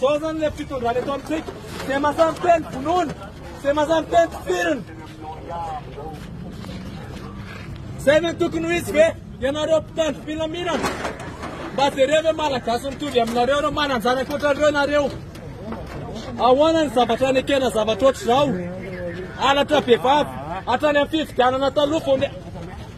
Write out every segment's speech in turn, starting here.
Zao zany le fitondrana eto amintsika. Ze mazan teny vonoina, ze mazan teny tifirina. Zay ve tokony ho izy ve? Ianareo mpitandro filaminana. Mba jereo ve malagasy mitovy aminareo ireo manan-jana ankoatra ireo nareo. Ahoana ny zavatra nekena zavatra ohatr'izao? Halatra bevava, hatrany amin'ny fifidianana taloha vao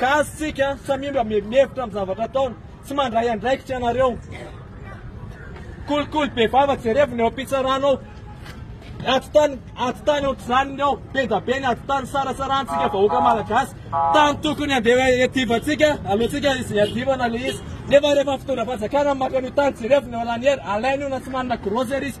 Gasy tsika samia mba mihevitra amin'ny zavatra ataony tsy mandray andraikitra ianareo kolikoly be vava jerevina eo am-pitsarana ao ato tany ato tany ohatr'izany ao bendabe ny ato tany sarasarantsika vahoaka malagasy tany tokony handeha iadivantsika alohantsika izy iadivana le izy nefa rehefa fitondra fanjakana maka an'io tany jerevina eo laniera alainy io na tsy manana grosery izy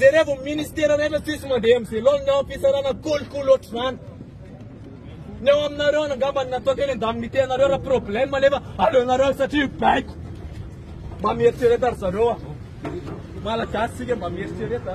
Jerevo ny ministera rehetra tsisy mandeha amin'izay laonina ao am-pitsarana kolikoly ohatr'izany. Ny ao aminareo any angamba ny natao teny an-daminite anareo raha problème nefa aleonareo satria baiko. Mba mieritrereta ry zareo a. Malagasy sika mba mieritrereta.